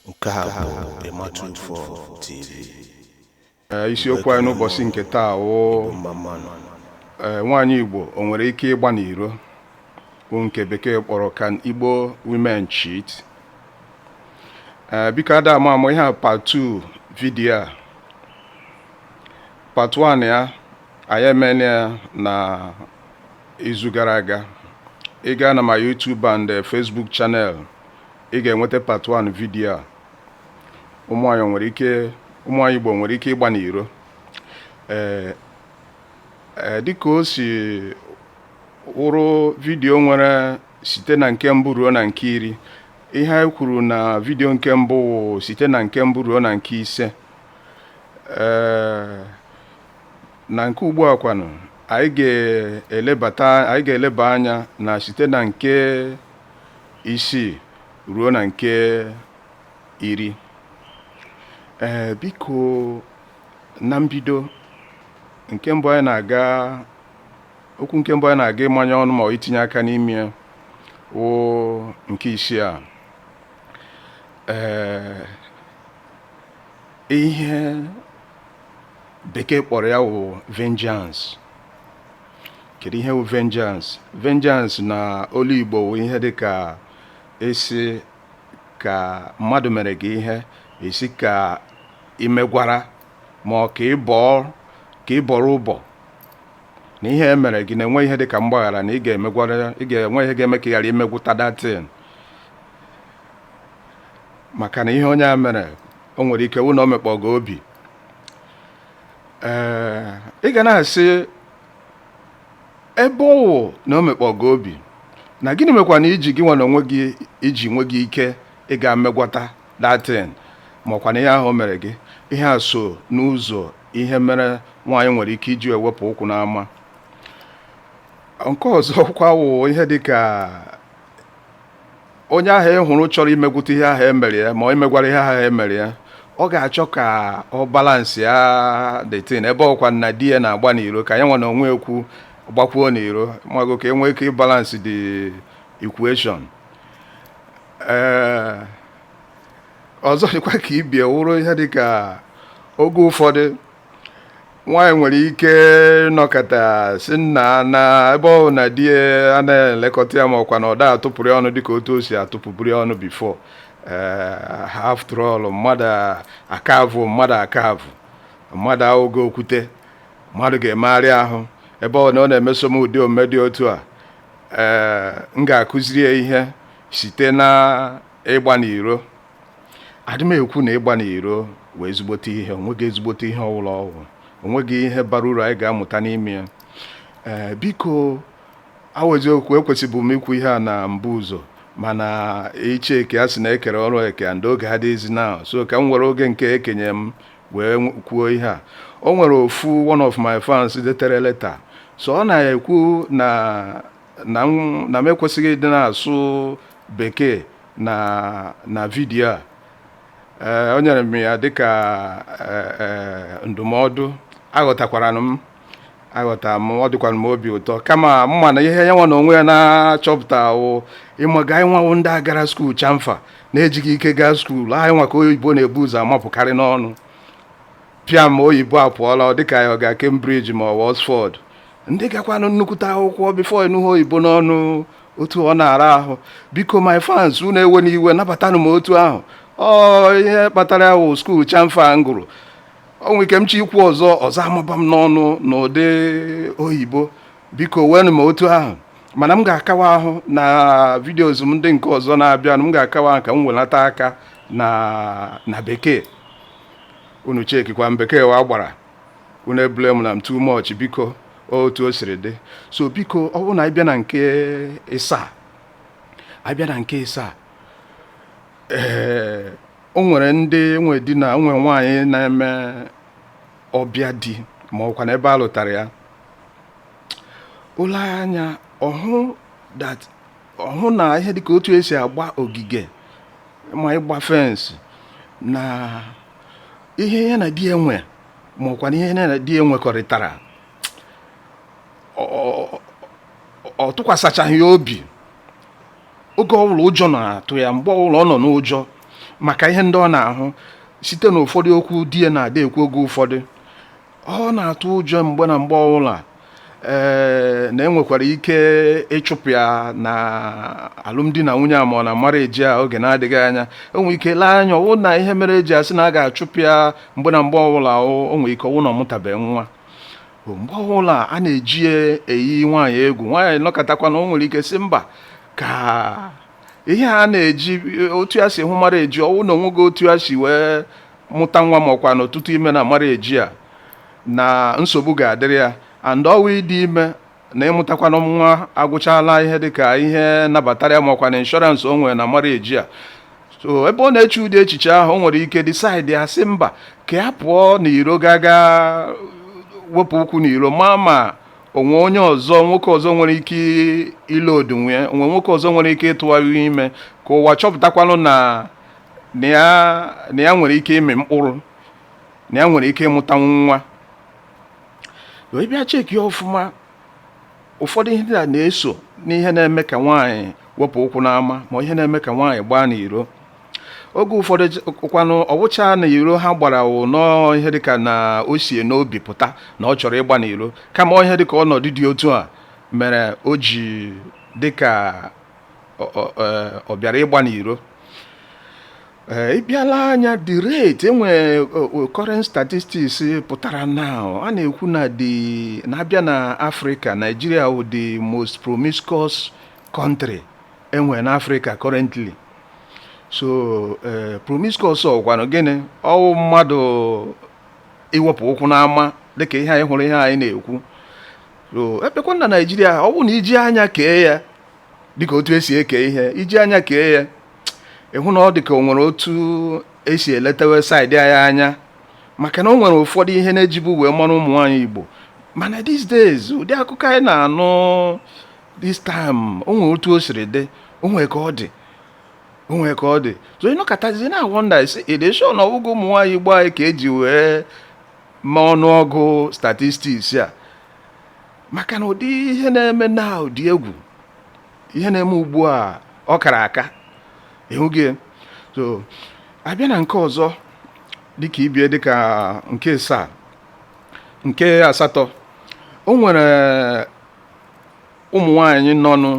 Nke a bụ Ematu Info TV. Ee, isiokwu anyị n'ụbọchị nke taa wụ ee, nwaanyị Igbo o nwere ike ịgba n'iro bụ nke bekee kpọrọ Can Igbo Women Cheat? Ee, biko ada ama ama ihe a part 2 vidiyo a part 1 ya anyị emela ya na izu gara aga ị gaa na my YouTube and eh, Facebook channel ị ga-enweta part 1 vidiyo a ụmụnwaanyị nwere ike ụmụnwaanyị Igbo nwere ike ịgba n'iro ee eh, eh, dịka o si wụrụ vidiyo nwere site na nke mbụ ruo na nke iri ihe anyị kwuru na vidiyo nke mbụ site na nke mbụ ruo na nke ise ee na nke ugbu a kwanụ anyị ga-elebata anyị ga-eleba anya na site na nke isii ruo na nke iri ee biko na mbido nke mbụ anyị na-aga okwu nke mbụ anyị na-aga ịmanye ọnụ ma ọ itinye aka n'ime ya wụ nke isii a ee ihe bekee kpọrọ ya wụ vengeance kedu ihe wụ vengeance vengeance na olu igbo wụ ihe dị ka esi ka mmadụ mere gị ihe esi ka imegwara ma ọ ka ịbọọ ka ịbọrọ ụbọ na ihe e mere gị na-enwe ihe dị ka mgbaghara na ị ga-emegwara ị ga-enwe ihe ga-eme ka ị ghara imegwuta that thing maka na ihe onye a mere o nwere ike wụ na o mekpọ gị obi ee ị ga na-asị ebe ọ wụ na o mekpọ gị obi na gịnị mekwanụ i ji gị nwa na onwe gị i ji nweghị ike ịga megwata that thing ma ọkwanụ ihe ahụ o mere gị ihe a so n'ụzọ ihe mere nwaanyị nwere ike iji wee wepụ ụkwụ n'ama nke ọzọ kwa wụ ihe dị ka onye ahụ ị hụrụ chọrọ imegwute ihe ahụ e mere ya ma ọ imegwara ihe ahụ e mere ya ọ ga-achọ ka ọ balansị ya the thing ebe ọkwa na di ya na-agba n'iro ka ya nwa na onwe ekwu gbakwuo n'iro mago ka e nwee ike ịbalansị the equation ee ọzọ dịkwa ka ibe ya wụrụ ihe dịka oge ụfọdụ nwaanyị nwere ike nọkata sị nnaa na ebe ọ na di ya anaghị elekọta ya ma ọkwa na ọ da atụpụrụ ya ọnụ dịka otu o si atụpụbụrụ ya ọnụ before eh, after all mmadụ akavụ mmadụ akavụ mmadụ awụghị okwute mmadụ ga-emegharị ahụ ebe ọ na ọ na-emeso m ụdị omume dị otu a ee eh, m ga-akụziri ya ihe site na ịgba n'iro adị m ekwu na ịgba n'iro wụ ezigbote ihe onweghị ezigbote ihe ọwụla ọ wụ onweghị ihe bara uru anyị ga-amụta n'ime ya ee biko ọ wụ eziokwu ekwesịbụ m ikwu ihe a na mbụ ụzọ mana iche eke a sị na ekere ọrụ eke and oge adịghịzi na so ka m were oge nke ekenye m wee kwuo ihe a o nwere ofu one of my fans detere leta so ọ na-ekwu na na m na m ekwesịghị ịdị na-asụ bekee na na video a ee o nyere m ya dịka ee, ee, ndụmọdụ aghọtakwara m aghọta m ọ dịkwara m obi ụtọ kama m ma na ihe ya nwa na onwe ya na-achọpụta wụ ịmaga anyị nwa wụ ndị a gara school chamfa na-ejighị ike gaa school anyị nwa ka oyibo na-ebu ụzọ amapụkarị n'ọnụ pịam oyibo apụọla dịka ya ọ ga Cambridge ma ọ Oxford ndị gakwanụ nnukwute akwụkwọ before ịnụ ha oyibo n'ọnụ otu ọ na-ara ahụ biko my fans unu ewena iwe nabatanụ m otu ahụ ọ ihe kpatara ya wụ school chamfa m gụrụ o nwe ike m chọ ikwu ọzọ ọzọ amaba m n'ọnụ n'ụdị oyibo biko weenụ m otu ahụ mana m ga-akawa ahụ na videos m ndị nke ọzọ na-abịanụ m ga-akawa ahụ ka m welata aka na na bekee unu chekikwa m bekee wa gbara unu ebule m na m too much biko otu o siri dị so biko ọ bụrụ na anyị bịa na nke ịsaa anyị bịa na nke ịsaa ee o nwere ndị nwe di na nwe nwaanyị na-eme ọbịa di ma ọkwa na ebe a lụtara ya o lee anya ọ hụ that ọ hụ na ihe dịka otu esi agba ogige ma ịgba fence na ihe ya na di ya nwe ma ọkwa na ihe ya na di ya nwekọrịtara ọ tụkwasịchaghị ya obi oge ọbụla ụjọ na-atụ ya mgbe ọbụla ọ nọ n'ụjọ maka ihe ndị ọ na-ahụ site na ụfọdụ okwu di ya na-adị ekwu oge ụfọdụ ọ na-atụ ụjọ mgbe na mgbe ọbụla ee na enwekwara ike ịchụpụ ya na alụmdi na nwunye a ma ọ na marriage a oge na-adịghị anya o nwe ike lee anya ọwụ na ihe mere eji asị na a ga-achụpụ ya mgbe na mgbe ọbụla o nwere ike ọwụ na ọ mụtabeghị nwa mgbe ọbụla a na-eji ya eyi nwaanyị egwu nwaanyị nọkatakwanụ o nwere ike sị mba ka ihe a na-eji otu ya si hụ marriage ọwụ na onweghị otu ya si wee mụta nwa ma ọkwanụ tụta ime na marriage ya na nsogbu ga-adịrị ya and ọwụ ịdị ime na ịmụtakwanụ nwa agwụchala ihe dịka ihe nabatara ya ma ọkwanụ insurance o nwere na marriage ya so ebe ọ na-eche ụdị echiche ahụ o nwere ike decide ya sị mba ka ya pụọ n'iro gaa ga wepụ ụkwụ n'iro ma ma o nwee onye ọzọ nwoke ọzọ nwere ike ile odinwe onwe nwoke ọzọ nwere ike ịtụwa ya ime ka ụwa chọpụtakwanụ na na ya na ya nwere ike ịmị mkpụrụ na ya nwere ike ịmụtanwu nwa ị bịa check ya ọfụma ụfọdụ ihe ndị a na-eso n'ihe na-eme ka nwaanyị wepụ ụkwụ n'ama ma ihe na-eme ka nwaanyị gbaa n'iro oge ụfọdụ j- kwanụ ọwụcha na iro ha gbara wụ nọọ ihe dịka na o si ya n'obi pụta na ọ chọrọ ịgba n'iro kama ọ ihe dịka ọnọdụ dị otu a mere o ji dịka ọ bịara ịgba n'iro Eh, ị bịa lee anya the rate e nwere current statistics pụtara now a na-ekwu na the na a bịa na Africa Nigeria wụ the most promiscuous country e nwere na Africa currently so eh, promiscuous ọkwanụ gịnị ọwụ mmadụ iwepụ ụkwụ n'ama dịka ihe anyị hụrụ ihe anyị na-ekwu so a bịakwa na Nigeria ọ bụ na i ji anya kee ya dịka otu e si eke ihe i ji anya kee ya ị hụ na ọ dịka o nwere otu e si eletewe side anyị anya maka na o nwere ụfọdụ ihe na e jibu wee mara ụmụ nwaanyị Igbo mana these days ụdị akụkọ anyị na-anụ this time o nwere otu o siri dị o nwere ka ọ dị o nwere ka ọ dị so ị nọkatazie na-wonder are they sure na ọ wụghị ụmụ nwaanyị Igbo anyị ka e ji wee ma ọnụọgụ statistics a maka na ụdị ihe na-eme na ụdị egwu ihe na-eme ugbu a ọ kara aka ị hụgo so a bịa na nke ọzọ dịka ibe ya dịka nke asaa nke asatọ o nwere ụmụ nwanyị nọnụ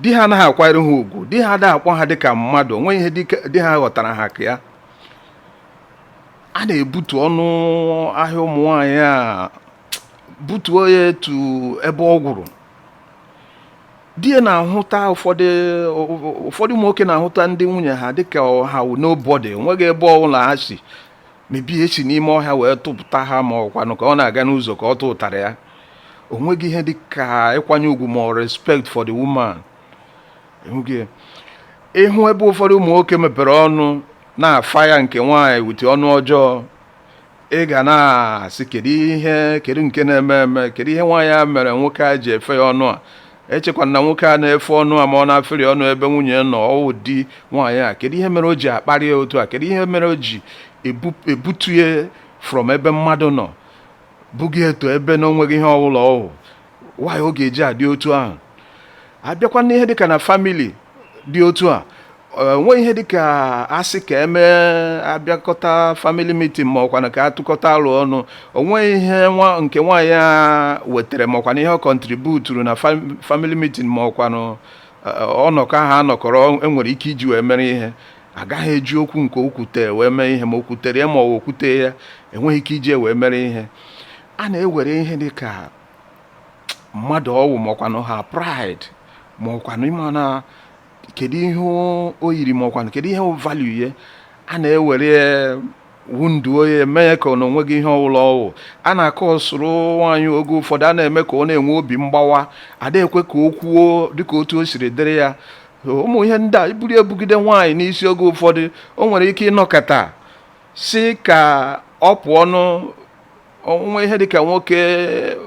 di ha anaghị akwanyere ha ugwu di ha adịghị akpọ ha dịka mmadụ o nweghị ihe di ha ghọtara ha ka ya a na-ebutu ọnụ ahịa ụmụ nwanyị a butuo ya to ebe ọ gwụrụ di ya na-ahụta ụfọdụ ụfọdụ ụmụ nwoke na-ahụta ndị nwunye ha dịka ha wụ nobody o nweghị ebe ọbụla ha si maybe e si n'ime ọhịa wee tụpụta ha ma ọkwanụ ka ọ na-aga n'ụzọ ka ọ tụtara ya o nweghị ihe dịka ịkwanye ugwu ma respect for the woman ị hụ ebe ụfọdụ ụmụ nwoke mepere ọnụ na-fire nke nwaanyị with ọnụ ọjọọ ị ga na-asị kedu ihe kedu nke na-eme eme kedu ihe nwaanyị a mere nwoke a ji efe ya ọnụ a echekwana na nwoke a na-efe ọnụ a ma ọ na-afere ọnụ ebe nwunye nọ ọwụ di nwaanyị a kedu ihe mere o ji akparị ya otu a kedu ihe mere o ji ebutu ya from ebe mmadụ nọ buga ya to ebe na onweghị ihe ọwụla ọwụ nwaanyị ọ ga-eji adị otu ahụ abịakwa n'ihe dịka na family dị otu a o nwee ihe dịka asị ka emee abịakọta family meeting ma ọkwanụ ka atụkọta aro ọnụ o nwee ihe nke nwaanyị a wetara ma ọkwanụ ihe ọ contributuru na family meeting ma ọkwanụ ọnọkọ ahụ anọkọrọ enwere ike iji wee mere ihe agaghị eji okwu nke o kwute wee mee ihe ma o kwutere ya ma ọ okwute ya enweghị ike iji wee mere ihe a na-ewere ihe dịka mmadụ ọwụ ma ọkwanụ her pride ma ọkwanụ ịma na kedu ihe o yiri ma ọkwanụ kedu ihe value ya a na-ewere wunduo ya mee ka na onweghị ihe ọwụla ọwụ a na-akọ ọsụrụ nwaanyị oge ụfọdụ a na-eme ka ọ na-enwe obi mgbawa ada ekwe ka o kwuo dịka otu o siri dịrị ya ụmụ ihe ndị a iburu ebugide nwaanyị n'isi oge ụfọdụ o nwere ike ịnọkata sị ka ọ pụọ o nwee ihe dịka nwoke eh,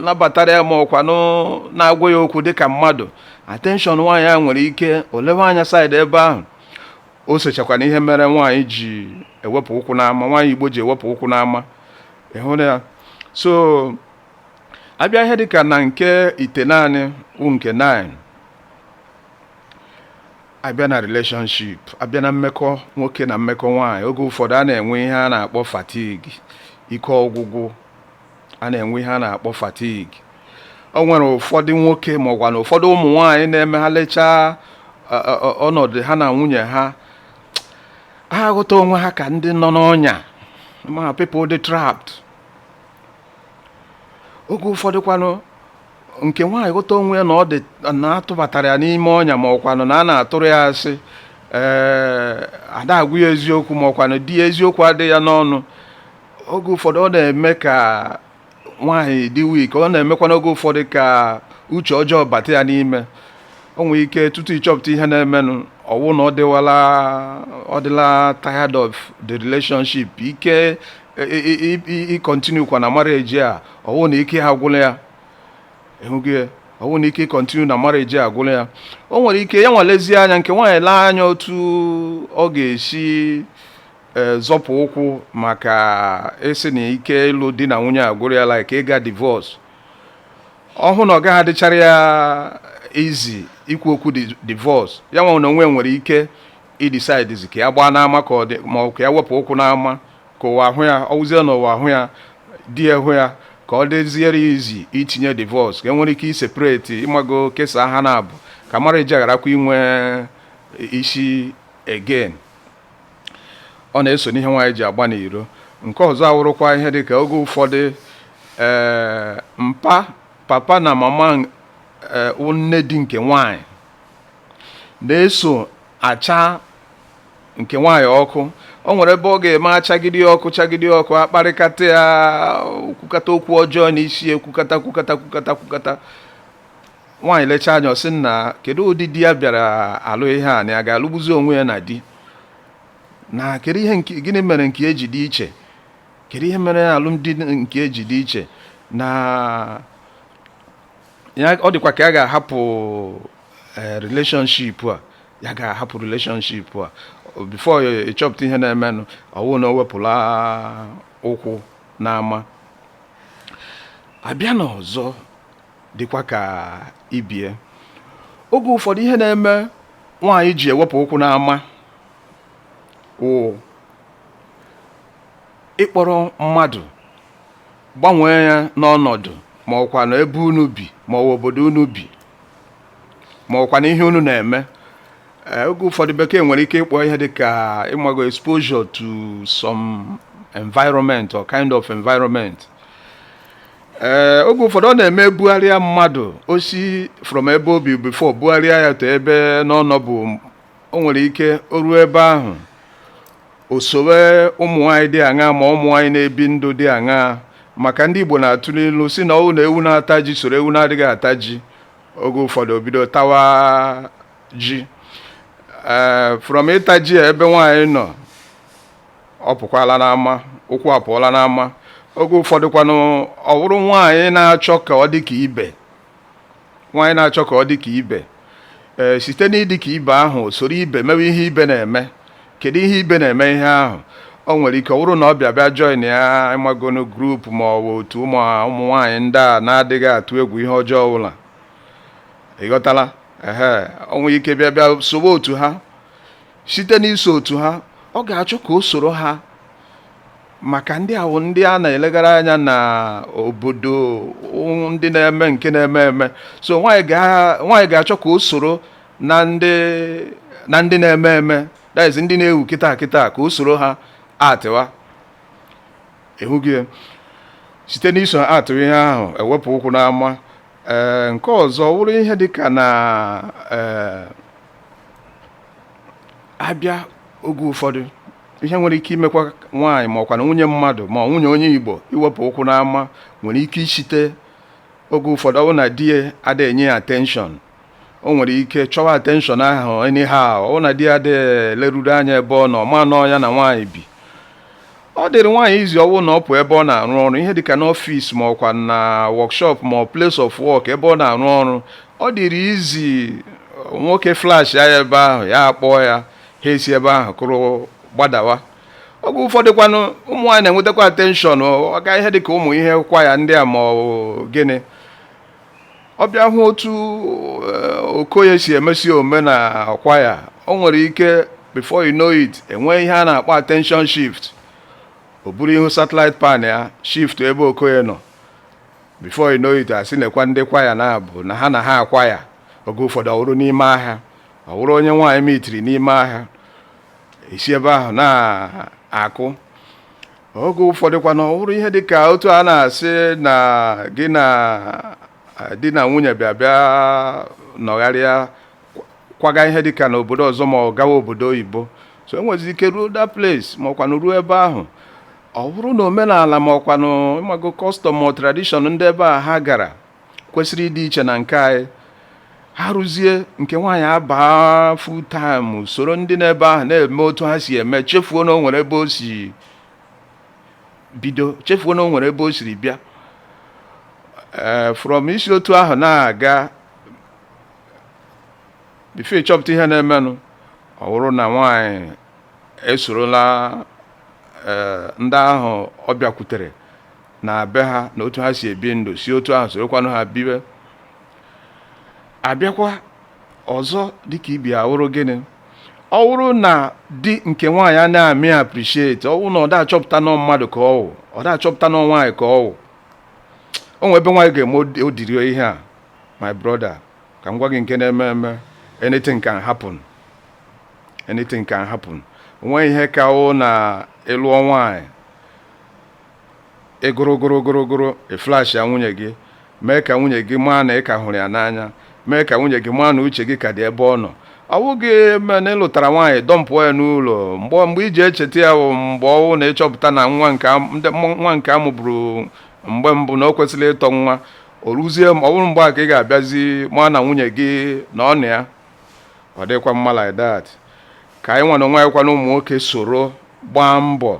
nabatara ya ma ọkwanụ na-agwa ya okwu dịka mmadụ attention nwaanyị a nwere ike o lewe anya side ebe ahụ o sochakwa n'ihe mere nwaanyị ji ewepụ ụkwụ n'ama nwaanyị igbo ji ewepụ ụkwụ n'ama ị hụrụ ya so abịa ihe dịka na nke itenaanị wụ nke 9 abịa na relationship abịa na mmekọ nwoke na mmekọ nwaanyị oge ụfọdụ a na-enwe ihe a na-akpọ fatigue ike ọgwụgwụ a na-enwe ihe a na-akpọ fatigue o nwere ụfọdụ nwoke ma ọkwanụ ụfọdụ ụmụ nwaanyị na-eme ha lechaa ọnọdụ ha na nwunye ha ha aghọta onwe ha ka ndị nọ n'ọnya ma people dị trapped oge ụfọdụ kwanụ nke nwaanyị ghọta onwe ya na ọ dị na a tụbatara ya n'ime ọnya ma ọkwanụ na a na-atụrụ ya asị ee ada agwa ya eziokwu ma ọkwanụ di ya eziokwu adịghị ya n'ọnụ oge ụfọdụ ọ na-eme ka nwaanyị dị weak ọ na-emekwanụ oge ụfọdụ ka uche ọjọọ bata ya n'ime o nwere ike tutu ịchọpụta ihe na-emenụ ọwụ na ọ dịwala ọ dịla tired of the relationship ike ịcontinuekwa na marriage a ọwụ na ike agwụla ya ịhụgo ya ọwụ na ike ịcontinue na marriage agwụla ya o nwere ike ya nwa lezie anya nke nwaanyị lee anya otu ọ ga-esi e, zọpụ ụkwụ maka isi na ike ịlụ di na nwunye agwụla ya like ịga divorce ọwụ na ọ gaghị adịchara ya easy ikwu okwu divorce ya nwa na onwe ya nwere ike idecidezi ka ya gbaa n'ama ka ọ dị ma ọ ka ya wepụ ụkwụ n'ama ka ụwa ahụ ya ọ wụzie na ụwa ahụ ya di ya hụ ya ka ọ dịziere ya easy itinye divorce ka e nwere ike iseparate ịmago kesaa ha naabọ ka marriage agharakwa inwe isi again ọ na-eso n'ihe nwaanyị ji agba n'iro nke ọzọ awụrụkwa ihe dị ka oge ụfọdụ ee mpa papa na mama ee, nne di nke nwaanyị na-eso acha nke nwaanyị ọkụ o nwere ebe ọ ga-eme achagide ọkụ chagide ọkụ akparịkata ya kwukata okwu ọjọọ n'isi ya kwukata kwukata kwukata kwukata nwaanyị lechaa anya ọ sị nna kedu ụdị di ya bịara alụ ihe a na ya ga-alụgbuzi onwe ya na di na kedu ihe gịnị mere nke ya ji dị iche kedu ihe mere alụmdi nke ya ji dị iche na ya ọ dịkwa ka ya ga-ahapụ eh, relationship a ya ga-ahapụ relationship a before ị chọpụta ihe na-emenụ ọ wụ na o wepụla ụkwụ n'ama abịa na ọzọ dịkwa ka ibe ya oge ụfọdụ ihe na-eme nwaanyị ji ewepụ ụkwụ n'ama wụ ịkpọrọ mmadụ gbanwee ya n'ọnọdụ ma ọ kwanụ ebe unu bi ma ọ wụ obodo unu bi ma ọ kwanụ ihe unu na-eme eh, oge ụfọdụ bekee nwere ike ịkpọ ihe dịka ịmago exposure to some environment or kind of environment ee eh, oge ụfọdụ ọ na-eme bugharịa mmadụ o si from ebe o bi before bugharịa ya to ebe na ọ nọbu o nwere ike o ruo ebe ahụ O sowe ụmụnwaanyị dị aṅaa ma ụmụnwaanyị na-ebi ndụ dị aṅaa maka ndị Igbo na-atụ n'ilu sị na ọ wụ na ewu na-ata ji soro ewu na-adịghị ata ji oge ụfọdụ o bido tawa ji ee from ịta ji a ebe nwaanyị nọ ọ pụkwala n'ama ụkwụ apụọla n'ama oge ụfọdụ kwanụ ọ bụrụ nwaanyị na-achọ ka ọ dị ka ibe nwaanyị na-achọ ka ọ dị ka ibe ee site n'ịdị ka ibe ahụ soro ibe mewe ihe ibe na-eme kedu ihe ibe na-eme ihe ahụ o nwere ike ọ bụrụ na ọ bịa bịa joinia ịmagonu group ma ọ bụ otu ụmụ ụmụ nwaanyị ndị a na-adịghị atụ egwu ihe ọjọọ ọbụla ịghọtala ehe o nwere ike bịa bịa sowe otu ha site n'iso otu ha ọ ga-achọ ka o soro ha maka ndị a wụ ndị a na-elegara anya na obodo ndị na-eme nke na-eme eme so nwaanyị ga-achọ ka o soro na ndị na ndị na-eme eme that is ndị na-ewu kịta kịta ka o soro ha atịwa ị hụghị ya site n'iso ha atịwa ihe ahụ ewepụ ụkwụ n'ama ee eh, nke ọzọ wụrụ ihe dịka na ee eh, abịa oge ụfọdụ ihe nwere ike imekwa nwaanyị ma ọkwanụ nwunye mmadụ ma nwunye onye igbo iwepụ ụkwụ n'ama nwere ike isite oge ụfọdụ ọ bụ na di ya adịghị enye ya attention o nwere ike chọwa attention ahụ anyhow ọ bụ na di ya adịghị leruru anya ebe ọ nọ maa na ọ ya na nwaanyị bi ọ dịrị nwaanyị easy ọ wụ na ọ pụọ ebe ọ na-arụ ọrụ ihe dịka n'office ma ọkwa na workshop ma place of work ebe ọ na-arụ ọrụ ọ dịrị easy nwoke flash ya ebe ahụ ya akpọọ ya ha esi ebe ahụ kụrụ gbadawa oge ụfọdụ kwanụ ụmụ nwaanyị na-enwetakwa attention ọ gaa ihe dịka ụmụ ihe kwaya ndị a ma ọ gịnị ọ bịa hụ otu eh, okoye si emesi ome na kwaya o nwere ike before you know it enwee ihe a na-akpọ attention shift o buru ihu satellite pan ya shift ebe okoye nọ before you know it asị nekwa ndị kwaya na-abụ na ha na ha akwa ya oge ụfọdụ ọ wụrụ n'ime ahịa ọ wụrụ onye nwaanyị mitiri n'ime ahịa esi ebe ahụ na-akụ oge ụfọdụkwa na ọ wụrụ ihe dị ka otu a na-asị na gị na di na nwunye bịa bịa nọgharịa kwaga ihe dị ka n'obodo ọzọ ma ọ gawa obodo oyibo so enwezi ike ruo that place ma ọkwanụ ruo ebe ahụ ọ wụrụ na omenala ma ọkwanụ ịmago custom ma tradition ndị ebe a ha gara kwesịrị ịdị iche na nke anyị ha ruzie nke nwaanyị abaa full time soro ndị n'ebe ahụ na-eme otu ha si eme chefuo na o nwere ebe o si bido chefuo na o nwere ebe o siri bịa ee eh, from esi otu ahụ na-aga before ị chọpụta ihe na-emenụ ọ wụrụ na nwaanyị esorola eh, ndị ahụ ọ bịakwutere na be ha na otu ha si ebi ndụ si otu ahụ sorokwanụ ha bibe abịakwa ọzọ dịka ị bịa wụrụ gịnị ọ wụrụ na di nke nwaanyị a na-amị appreciate ọ wụrụ na ọ da achọpụta na ọ mmadụ ka ọ wụ ọ da achọpụta na ọ nwaanyị ka ọ wụ o nwe ebe nwaanyị ga-eme ụdịrị ihe a my brother ka m gwa gị nke na-eme eme anything can happen anything can happen o nwe ihe ka wụ na ị lụọ nwaanyị ị gụrụ gụrụ gụrụ gụrụ ị flash ya nwunye gị mee ka nwunye gị maa na ị ka hụrụ ya n'anya mee ka nwunye gị maa na uche gị ka dị ebe ọ nọ ọ bụghị ma na ị lụtara nwaanyị dọmpụọ ya n'ụlọ mgbe mgbe i ji echeta ya bụ mgbe ọ wụ na ị chọpụta na nwa nke am- ndị mụ- nwa nke a mụburu mgbe mbụ na o kwesịrị ịtọ nwa o ruzie ma ọ bụrụ mgbe a ka ị ga-abịazi ma na nwunye gị na ọ nọ ya ọ dịkwa mma like that ka anyị nwa n'onwe anyị kwanụ ụmụ nwoke soro gbaa mbọ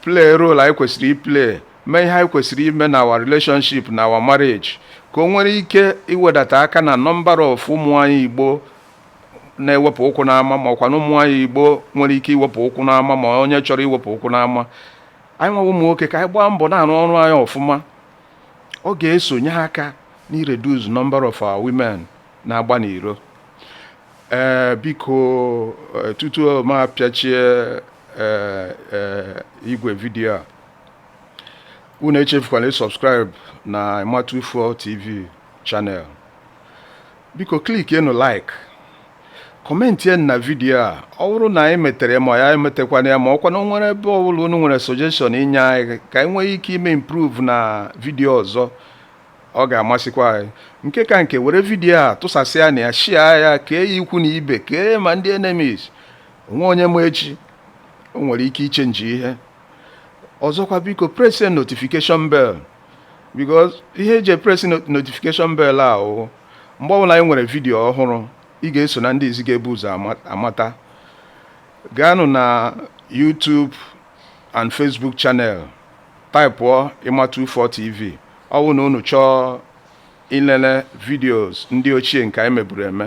play role anyị kwesịrị iplay mee ihe anyị kwesịrị ime na our relationship na our marriage ka o nwere ike iwedata aka na number of ụmụ nwanyị Igbo na-ewepụ ụkwụ n'ama ma ọkwa na ụmụ nwanyị Igbo nwere ike iwepụ ụkwụ n'ama ma onye chọrọ iwepụ ụkwụ n'ama anyịnwa wụ ụmụ nwoke ka anyị gbaa mbọ na-arụ ọrụ anyị ọfụma ọ ga-esonye aka n'ireduce number of our women na-agba n'iro ee eh, biko eh, tutu m apịachie eh, eh, igwe vidiyo a unu echefukwala isubscribe na Ịma24 TV channel biko klikienụ like kọmentienụ na vidiyo a ọ bụrụ na anyị metere ma ya emetekwana ya ma ọkwa na o nwere ebe ọbụla unu nwere suggestion inye anyị ka anyị nwee ike ime improve na vidiyo ọzọ ọ ga-amasịkwa anyị nke ka nke were vidiyo a tụsasịanụ ya share ya kee ya ikwu na ibe kee ma ndị enemies o nwe onye ma echi o nwere ike ichenji ihe ọzọkwa biko press notification bell because ihe e ji press notification bell a wụ mgbe ọbụla anyị nwere vidiyo ọhụrụ ị ga-eso na ndị izi ga-ebu ụzọ amata gaanụ na YouTube and Facebook channel taịpụọ Ịma24 TV ọ bụ na unu chọọ ilele videos ndị ochie nke anyị meburu eme